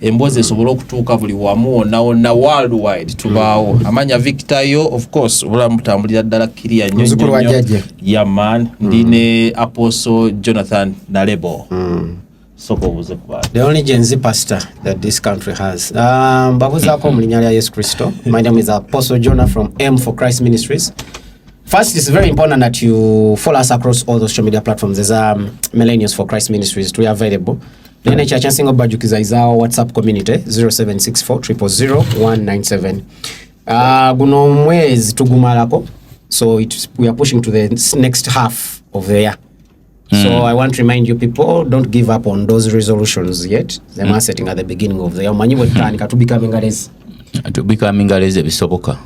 emboozi esobole okutuuka buli wamu wonna wonna worldwide tubaawo mm. amanya victor yo of course obulamu butambulira ddala kiriya nyonyonyo yaman mm. ndi ne apostle jonathan nalebo mm. soka obuuze ku bantu the only gen z pastor that this country has ah, mbabuzaako mu linnya lya yesu kristo my name is apostle jonah from m for christ ministries First, it's very important that you follow us across all the social media platforms. There's um, Millennials for Christ Ministries. We are available. Nene ekya kyasinga obajukiza is our whatsapp community 0764000197 uh, ah, guno omwezi tugumalako so it, we are pushing to the next half of the year Mm. So I want to remind you people don't give up on those resolutions yet. They mm. are setting at the beginning of the year. Manyi wetani katu becoming a race. To becoming a race bisoboka.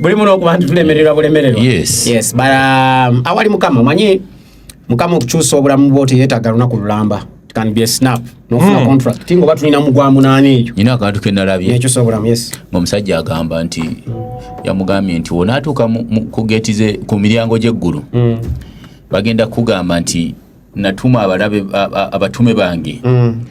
Buli muno okubantu tulemererwa bulemererwa. Yes. Yes, but um, awali mukama manyi mukama okukyusa obulamu bwo teyetaaga lunaku lulamba can be a snap nofuna mm. contract tinga oba tulina mugwa munaana ekyo nyina akantu kenalabye nekyo sobulamu yes ngaomusajja agamba nti yamugambye nti wonaatuuka ku geti ze ku miryango gy'eggulu mm. bagenda kugamba nti natuma abalabe abatume bange mm.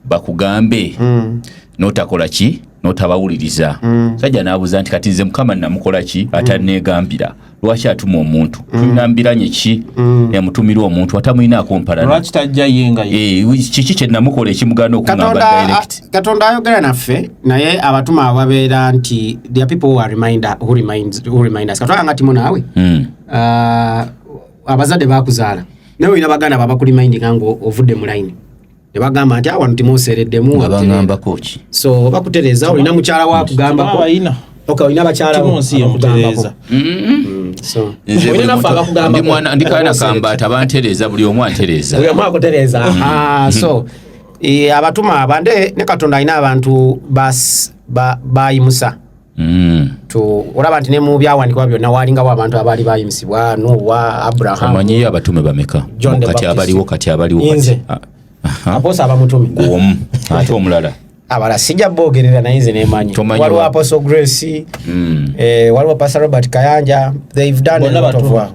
bakugambe mm. notakola ki notabawuliriza mm. sajja nabuuza nti kati nze mukama namukola ki atanegambira mm. lwaki atuma omuntu mm. tulina mbiranye ki mm. emutumira omuntu atamulinaako mpalanakiki eh, kyenamukola ekimugana okukatonda ayogera naffe naye abatuma ababeera nti there people who are reminder, who reminds, who remind us katwala nga timu naawe mm. uh, abazadde bakuzaala naye olina baganda babakurimindinga nga ovudde mu layini ne bagamba nti awano ah, timuseereddemu nga bangambako ki so bakutereeza olina mukyala wa kugambako ok olina bakyala okugambako ndikaana kambaata bantereeza buli omu antereeza buli omu akutereeza mm. ah, so eh, abatuma abande ne katonda alina abantu bayimusa ba, ba Mm. olaba nti ne mu byawandikibwa byonna waalingawo abantu abaali bayimisibwa nuwa abrahamumanyiyo abatume bameka kati abaliwo kati abaliwo ah, aposa abamutume omu ate omulala abala sijja boogerera naye nze nemanyi waliwo apostle grace mm. eh, waliwo pastor robert kayanja they've done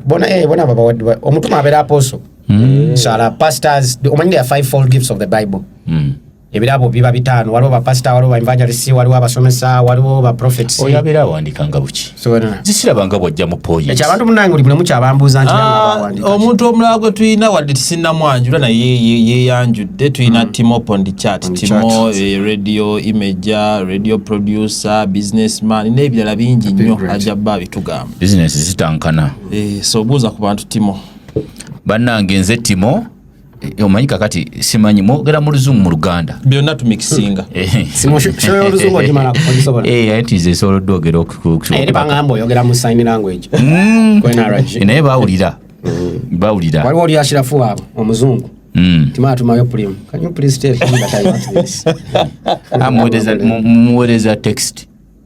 bona eh, bona babawadde omutume abeera apostle mm. sala pastors omanyi there are five fold gifts of the bible mm. ebirabo biba bitaano waliwo bapasita waliwo baevangelisi waliwo abasomesa waliwo baprofets oyo abeera awandikanga buki zisirabanga bwajja mu poyinti ekyo abantu munange buli bulemu kyabambuuza nti ah, omuntu omulala gwe tulina wadde tisinamwanjula naye yeyanjudde tulina mm. timo pondicat timo eh, radio imager radio producer businessman n'ebirala bingi nnyo ajja bba abitugamba bizinesi zitankana eh, so obuuza ku bantu timo bannange nze timo Eh, omanyi kakati simanyi mwogera mu luzungu mu luganda byonna tumikisinga eh, eh. esobola ogeonaye bawulira bawulira waliwo oli ashirafu waabwe omuzungu hmm. ah, muwereza text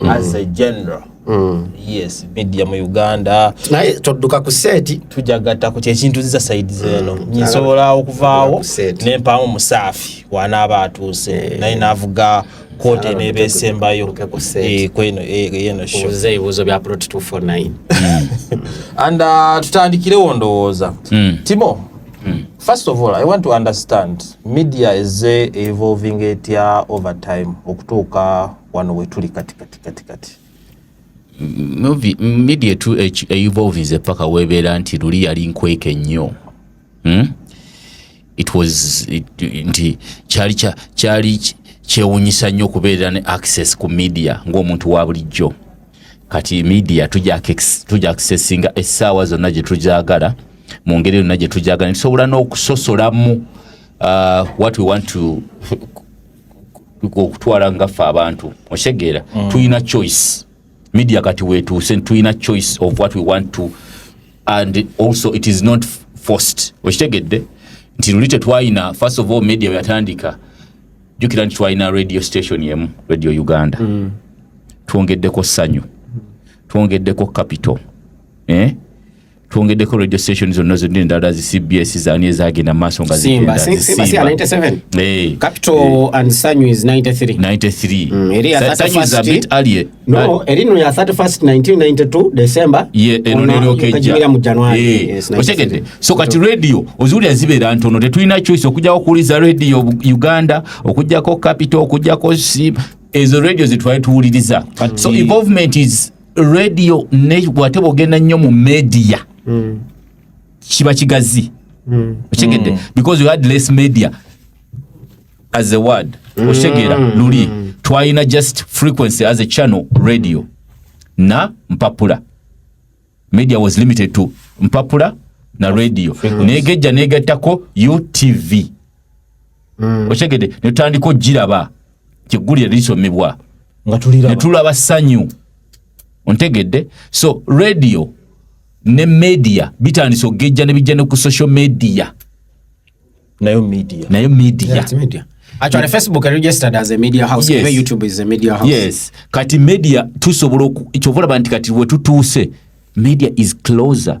mm. as a general mm. yes media mu uganda naye todduka ku seeti tujagatta ku kyekintu nziza saidi zeeno mm. nsobola okuvaawo nempaamu musaafi wanaaba atuuse eh. naye navuga kooti eneeba esembayo eh, kweno eh, yeno shoze ebibuuzo bya prot 249 and uh, tutandikirewo ndowooza mm. timo Mm. First of all, I want to understand media is evolving etya over time okutuuka wano wetuli kati kati kati kati media etu evolvinze paka webeera nti luli yali nkweke nnyo hmm? it was nti kyali kyali kyewunyisa nnyo okubeera ne access ku media ng'omuntu wa bulijjo kati media tuja accessinga essaawa zonna gye tugyagala mu ngeri yonna gye tugyagala nitusobola n'okusosolamu uh, what we want to okutwala nga ffe abantu okitegeera mm. tulina choice media kati wetuuse tulina choice of what we want to and also it is not forced okitegedde nti luli tetwalina first of all media yatandika jukira nti twalina radio station emu radio uganda mm. twongeddeko sanyu twongeddeko capital eh? twongeddeko radio station zonna zonna endala zi cbs zani ezagenda mu maaso nga otegedde so kati radio oziwulira zibeera ntono tetulina choice okujjako okuwuliza radio uganda okujjako capital okujjako ezo radio zetwali tuwuliriza so involvement is radio ate bwogenda nnyo mu media mm. kiba kigazi mm. okitegedde mm. because you had less media as a word mm. okitegera mm. luli mm. twalina just frequency as a channel radio na mpapula media was limited to mpapula na radio negejja negattako utv mm. okitegedde netutandika okugiraba kyeggulire lisomebwa ne tulaba ssanyu ontegedde so radio ne media bitandise okugejja ne bijja ne ku social media nayo media nayo media yeah, media actually facebook are registered as a media house yes. youtube is a media house yes kati media tusobola kyovola banti kati wetutuuse media is closer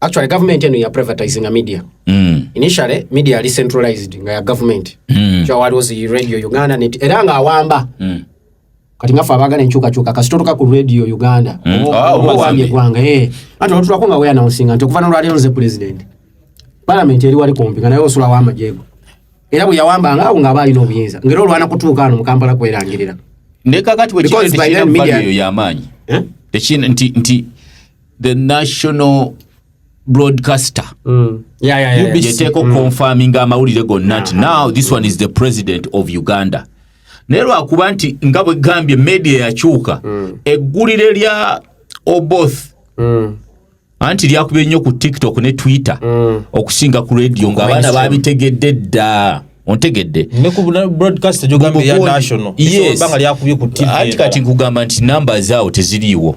actually government eno ya privatizing a media mm. initially media ali centralized nga ya government mm. kyo waliwo zi radio uganda net era nga awamba mm. kati ngafe abagala enkyukakyuka kasitotuka ku radio uganda mm. ah, owambye eggwanga eh. ati olutulako nga weanaunsinga nti okuva nolwaliro nze president palamenti eri wali kumpi nga naye osula wamajego era bwe yawambanga awo ng'aba alina obuyinza ngaera olwana kutuuka ano mu kampala kwerangirira nekakati bwekiyamaanyi eh? nti the national broadcaster mm. yeah, yeah, yeah, yeteeko mm. confirming amawulire gonna nti now this one is the president of uganda naye lwakuba nti nga bwegambye media yakyuka mm. eggulire lya oboth mm. anti lyakubye nnyo ku tiktok ne twitter mm. okusinga ku radio nga abaana babitegedde dda ontegedde kati nkugamba nti namba zaawo teziriiwo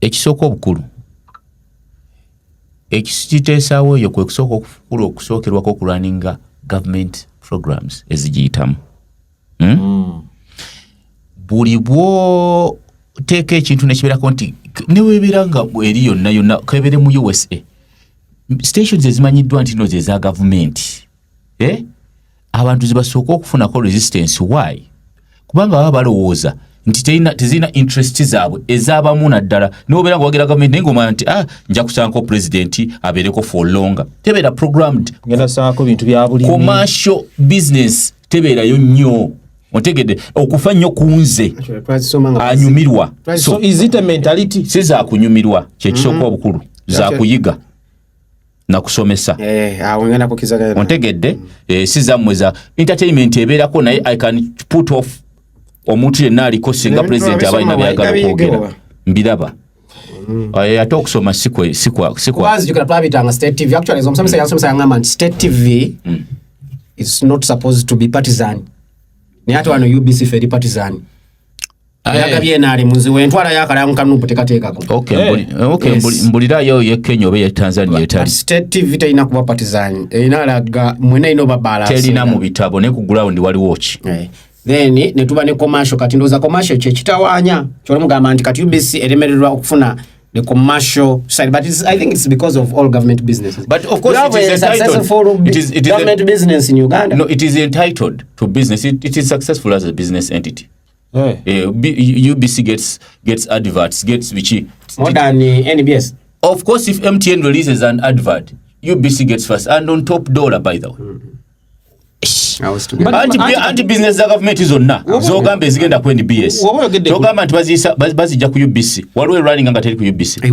ekisooka obukulu ekiteesaawo eyo kwe kusooka okukulu okusookerwako okulwaninga government programs ezigiyitamu hmm? mm. buli bwoteeka ekintu nekibeerako nti newebeera nga eri yonna yonna kebere mu usa stations ezimanyiddwa nti no zeza gavumenti eh? abantu zibasooka okufunako resistance why kubanga baba balowooza nti tezirina interest zaabwe ezabamu naddala niwobeera nga wagira gavumenti naye ngaomanya nti ah, nja kusankao pulezidenti abeereko for longer tebeera programmed commercial business tebeerayo nnyo otegedde okufa nnyo ku nze anyumirwa sizakunyumirwa kyekisooka mm-hmm. obukulu zakuyiga nakusomesa eh, ah, ontegedde mm. eh, si zammwe za entertainment ebeerako naye i can put off omuntu yenna aliko singa pulezidenti aba alina byagala okwogera mbiraba mm. eh, ate okusoma sikwabitanga state tv actually omusomesa mm. yansomesa yangamba nti state tv is not supposed to be partisan naye ate wano ubc feri partisan yagabye eh. enaali munziwe entwala yakalamu kanupu tekateekako eh. eh, mbulirayo ye kenya oba ye tanzania etali state tv terina kuba patizanyi erina alaga mwena erina oba balance terina mu bitabo ne ku ground waliwo ki then netuba ne commercial kati ndowooza commercial kyekitawaanya kyolimugamba nti kati ubc eremererwa okufuna the commercial side. But it's, I think it's because of all government businesses. But of course, it is a entitled. It is, it is government a, business in Uganda. No, it is entitled to business. It, it is successful as a business entity. Hey. Eh. Uh, eh, UBC gets gets adverts, gets bichi. More than uh, eh, NBS. Of course, if MTN releases an advert, UBC gets first and on top dollar, by the way. Mm -hmm. anti business za government zonna zogamba ezigenda ku nbs togamba nti bazijja ku ubc waliwo erunning nga teri ku ubc eh,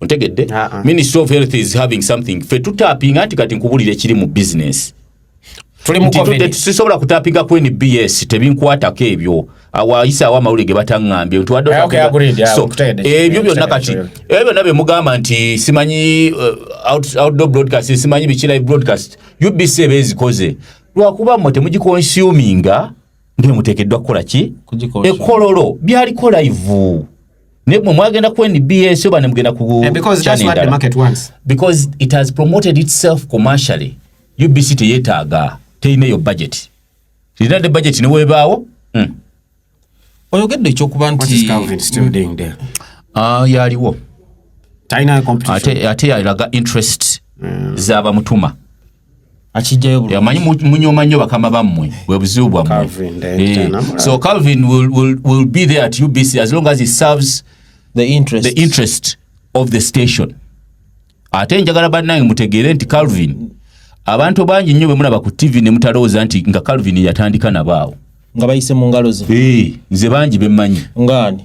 ontegedde uh -uh. ministry of health is having something fe tutapinga nti kati nkubulire kiri mu business sisobola kutapinga ku nbs tebinkwatako ebyo awayisa awo amawulire ge bataŋŋambye nti wadde eh, eh, ebyo byonna kati ebyo byonna bye mugamba nti simanyi eh, outdoor broadcast simanyi biki live broadcast ubc eba ezikoze lwakuba mmwe temugikonsuminga ngewe muteekeddwa kukola ki ekololo byaliko live naye mwe mwagenda ku nbs oba ne mugenda ku because it has promoted itself commercially ubc teyetaaga terina eyo budget terina de budget newebaawo hmm. oyogedde ekyokuba nti ah, yaliwo ate yalaga interest hmm. zabamutuma amanyi munyoma nnyo bakama bammwe bwe buzibu bwammwe eh, so calvin will, will, will be there at ubc as long as he serves the interest, the interest of the station ate njagala bannange mutegeere nti calvin abantu bangi nnyo bemulaba ku tv ne mutalowooza nti nga calvin yatandika nabaawo nga bayise mu ngalo ze eh, nze bangi bemmanyi ngaani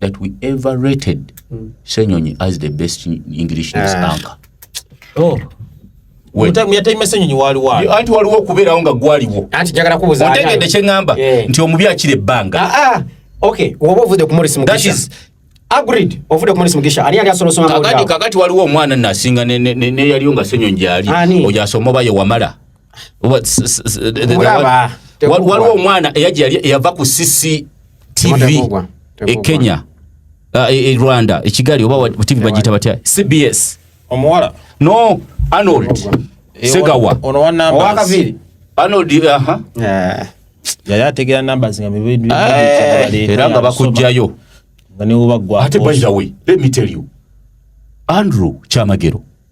that we ever rated mm. Senyonyi as the best English news uh. anchor. Oh. anti waliwo okubeerawo nga gwaliwo otegedde kyeŋamba eh. nti omubi akira ebbanga ah, ah. oba ovude ku morris mugisha agreed ovude ku morris mugisha ani yali asobola osoma kakati kakati waliwo omwana nasinga neyaliyo nga senyo njali oyo asoma oba ye wamala waliwo omwana eyava ku sisi tv e kenya uh, e, e rwanda ekigali oba tv bagiyita batya cbs omuwala no arnold eh, segawa owakaviri arnold aha eh. yali ategera numbers nga eh, era nga bakujjayo nga newobagwa ate by the way let me tell you andrew kyamagero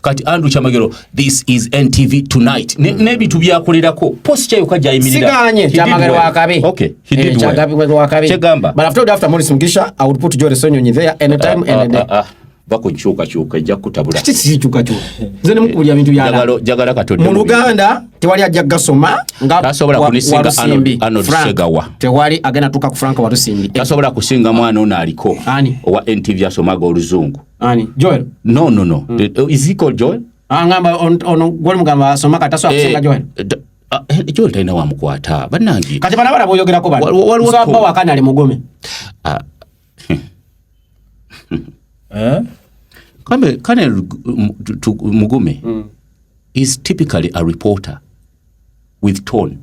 kati andrew kyamagero this is ntv tonight hmm. n'ebintu byakolerako posi kyayoka gyayimiriragamba bakukyukakyuka ejja kutabulajagala katonda mu luganda tewali ajja gasoma ngasobola kunisinga anosegawa tewali agenda tuka ku frank walusimbi tasobola kusinga mwana ono aliko owa ntv asomaga oluzungu Ani? Joel? No, no, no. Mm. Uh, is he called Joel? Ah, ngamba on, on goli mugamba asoma kata so akusinga eh, Joel. Uh, ah, eh, Joel talina wa mukwata. Banangi. Kati bana bana boyogera ko bana. Waliwo so abba wakana ali mugume. Ah. eh? Kame kane mugume. Mm. Is typically a reporter with tone.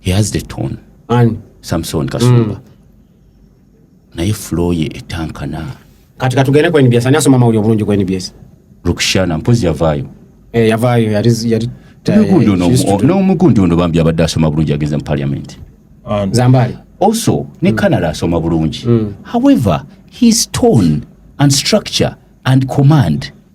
he has the tone ani samson kasumba mm. naye flow ye etankana kati katugende ku nbs ani asoma amawulire obulungi ku nbs rukshana mpozi yavaayo eh, yavaayo yali yali n'omugundi ono bambi abadde asoma bulungi agenze mu parliament zambali also ne mm. canada asoma bulungi mm. however his tone and structure and command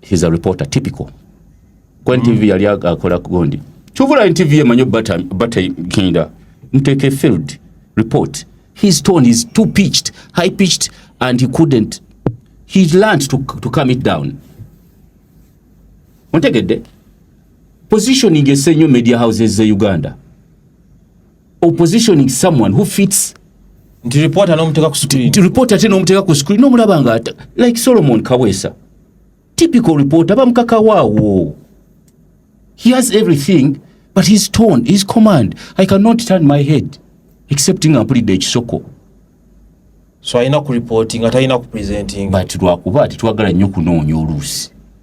he's a reporter typical kwa ntv mm. yali akola kugondi kyovula ntv emanyi bata bata kinda mteke field report his tone is too pitched high pitched and he couldn't he learned to, to come it down ontegedde positioning esenyo media houses ze uganda opposition is someone who fits nti reporter n'omuteeka ku screen nti reporter ate n'omuteeka ku screen n'omulaba nga like solomon kaweesa typical reporter bamukakawaawo he has everything but his tone his command i cannot turn my head except nga mpulidde ekisoko so alina ku reporting nga talina ku presenting but lwakuba tetwagala nnyo kunoonya oluusi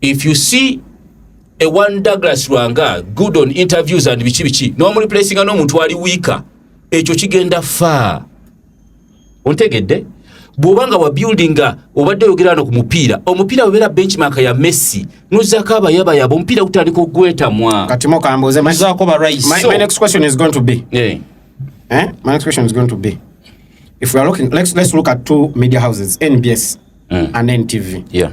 if you see a one Douglas Lwanga good on interviews and biki biki no mu replacing no muntu ali weaker ekyo kigenda fa ontegedde bwobanga wa building obadde yogera no kumupiira omupiira webera benchmark ya Messi nuzako abayaba yabo omupiira gutandika okugwetamwa kati mokambuze mazako ba rice my, so, my next question is going to be yeah. eh? my next question is going to be if we are looking let's, let's look at two media houses NBS mm. and NTV yeah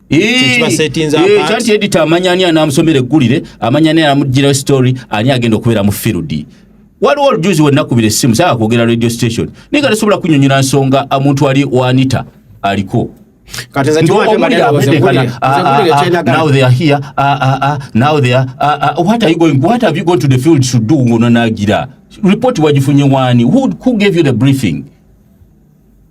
kyanti edita amanya ani anamusomera eggulire amanya ani anamugirawo story ani agenda okubeera mu field waliwo olujuzi wenakubira essimu saa kwogera radio station naye nga tesobola kunyonyola nsonga omuntu ali wanita aliko ngononagira report wagifunye wani who, who gave you the briefing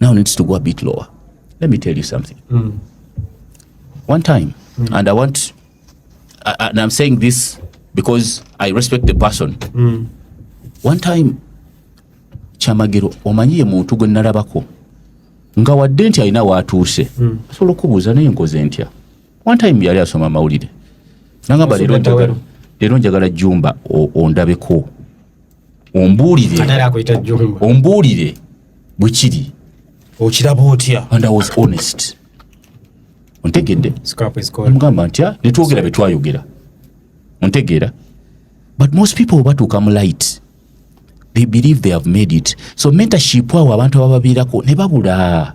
now needs to go a bit lower. Let me tell you something. Mm. One time, mm. and I want, I, and I'm saying this because I respect the person. Mm. One time, Chamagiro, omanyi ye muntu gwe nalabako nga wadde nti alina waatuuse mm. asobola okubuuza naye nkoze ntya one time yali asoma amawulire nangamba leero njagala jumba ondabeko ombuulire ombuulire bwe kiri okiraba otya and i was honest ontegedde omugamba ntya ah, netwogera bye twayogera ontegeera but most people batuuka mu light they believe they have made it so mentorship awo abantu abababiirako ne babula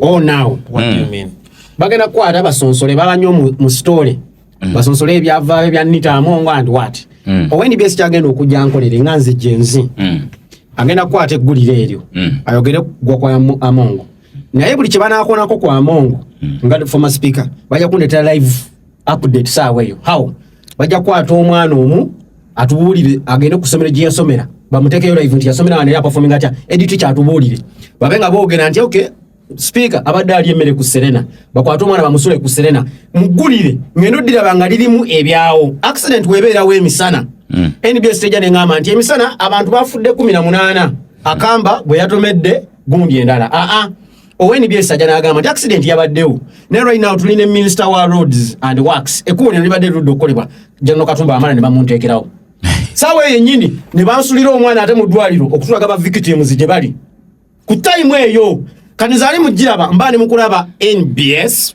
oh now what mm. do you hmm. mean bagenda kwata basonsole babanyo mu story mm. basonsole ebyava ebya nita amongo and what mm. owe ni best agenda okujja nkolere nga nze jenzi mm. agenda kwata eggulire eryo mm. ayogere gwa kwa amongo naye buli kye banaakonako kwa amongo mm. nga former speaker bajja kundetera live update saawa eyo how bajja kukwata omwana omu atubuulire agende ku somero gyeyasomera bamutekeyo live nti yasomera wano era apafominga atya edit kyatubuulire babe nga boogera nti okay speaker abadde ali emmere ku serena bakwate omwana bamusule ku serena muggulire ngendo ddiraba nga lirimu ebyawo accident webeerawo emisana mm. nbs teja neŋamba nti emisana abantu bafudde kumi na munaana akamba bwe yatomedde gundi endala aa ah, ah. ownbs ajja n'agamba nti accident yabaddewo naye right now tuli ne minister wa roads and works ekkubo lino libadde lirudde okukolebwa janno katumba amala ne bamunteekerawo saawa eyo yennyini ne bansulira omwana ate mu ddwaliro okutulaga ba victims gye bali ku time eyo kati zaali mugiraba mba ne mukulaba nbs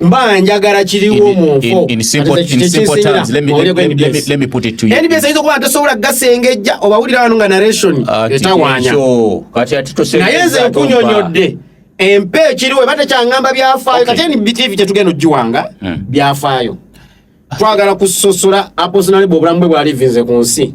mba njagala kiriwo mu nfo nbs ayinza okuba ntasobola gasengejja obawulira wano nga narration ah, etawanya naye nze nkunyonyodde empa ekiriwo eba tekyangamba byafaayo kati nbtv tetugenda ogiwanga hmm. byafaayo twagala kusosola aposonalibwa obulamu bwe bwalivinze ku nsi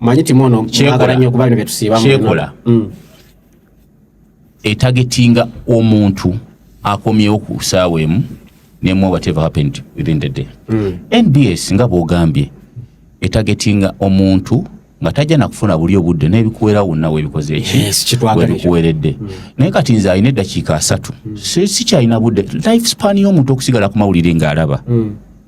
manyi timu ono mwagala nnyo kuba bino bye tusiibamu kyekola mm. etagetinga omuntu akomyewo ku saawa emu nemu whatever happened within the day mm. nbs nga bwogambye etagetinga omuntu nga tajja nakufuna buli obudde nebikuwera wonna webikoze ekikuweredde mm. naye kati nze alina eddakiika asatu mm. sikyalina budde life span y'omuntu okusigala ku mawulire ng'alaba mm.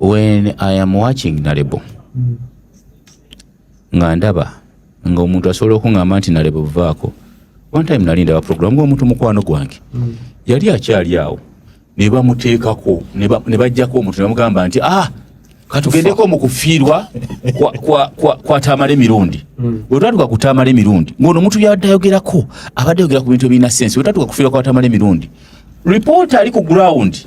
when i am watching nalebo mm. nga ndaba nga omuntu asobola okuŋamba nti nalebo vaako one time nali ndaba program nga omuntu mukwano gwange mm. yali akyali awo nebamuteekako nebajjako omuntu nebamugamba nti ah katugendeko mu kufiirwa kwatamala emirundi mm. wetwatuka kutamala emirundi ngaono omuntu yabadde ayogerako abadde ayogera ku bintu ebirina sensi wetwatuka kufiirwa kwatamala emirundi ripoota ali ku ground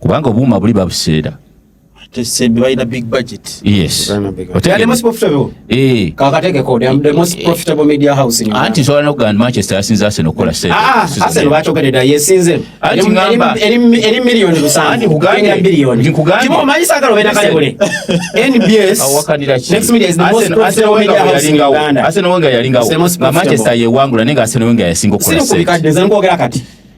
kubanga obuuma buli babuseera balina big budget yes anti nsobola nokugamba manchester yasinza arsenal okukola sentearsenal wenga yalingawo nga manchester yewangula naye nga arsenal wenga yasinga okukola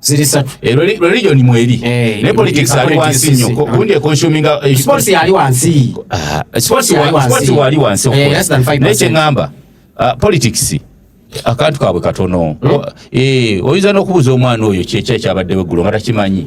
ziri satu eh, religion mweri eh, ne politics ali wansi nnyo gundi consuming eh, sports yali wansi ah, sports wali wansi naye kyeŋŋamba ah, politics akantu kaabwe katono hmm? oyinza n'okubuuza omwana oyo kyekya ekyabaddewo eggulo nga takimanyi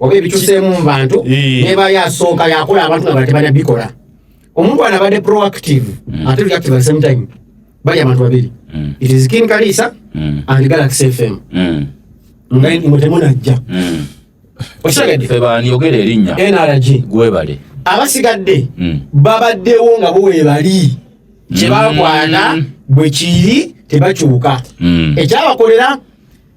oba ebituseemu mu bantu neba yasooka yakola abantu nga batebana bikola omuntu ana abadde proactive mm. ate reactive at the same time bali abantu babiri mm. it is king kalisa mm. and galaxy fm nga mutemu najja okitegeddebaniyogera erinnya nrg gwebale abasigadde babaddewo nga bo webali kyebakwata bwekiri tebakyuka ekyabakolera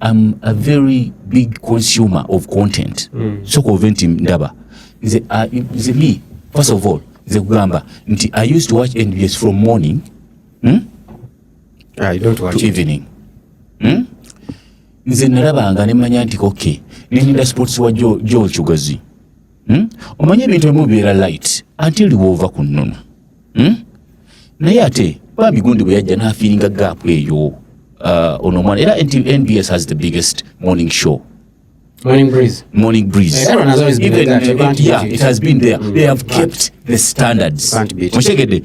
I'm a very big consumer of content mm. so convent ndaba nze uh, nze me first of all nze kugamba nti I used to watch NBS from morning hmm? I don't watch to evening hmm? nze nalabanga nemanya nti okay ninda sports wa Joel Chugazi hmm? omanyi ebintu ebimu bibeera light until woova ku nnono hmm? naye ate bambi gundi bwe yajja n'afiiringa gaapu eyo uh, ono omwana era nbs has the biggest morning show Morning breeze. Morning breeze. Yeah, everyone has always been Even, there. It, yeah, it has been there. Mm. They have kept the standards. Can't beat it.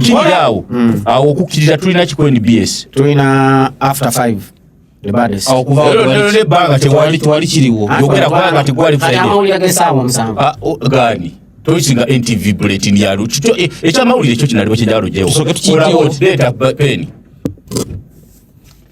kirirawo mm. awo okukkiriza tulina kiku nbs tulina after 5 ebbanga tewali kiriwo yogera kubanga tegwali ah, oh, gani toyisinga ntv bulletin yalo eh, ekyamawulire ekyo kinaliwo kyenjawalo jewo olaba okireeta peni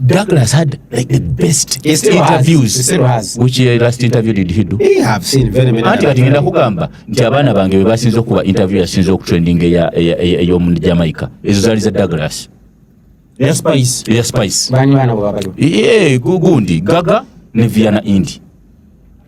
Douglas had like the best he still interviews. Has. He still has. Which uh, last interview did he do? He have seen very many. Anti kati ngenda kugamba nti abaana bange bwe basinze okuba interview yasinze okutrending eya ey'omu Jamaica ezo zaali za Douglas. Eya Spice. Eya Spice. Bani baana bwe babaliwo. Ee gundi gaga ne Viana Indi.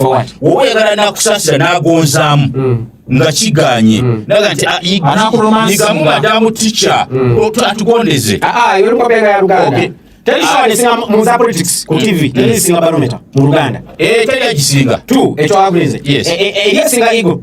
woba oyagala nakusasira nagonzaamu mm. nga kiganye mm. naga nti ah, yigamu madamu ticha mm. atugondeze ah, ah, teri egisinga ekyo agulinze eri esinga igo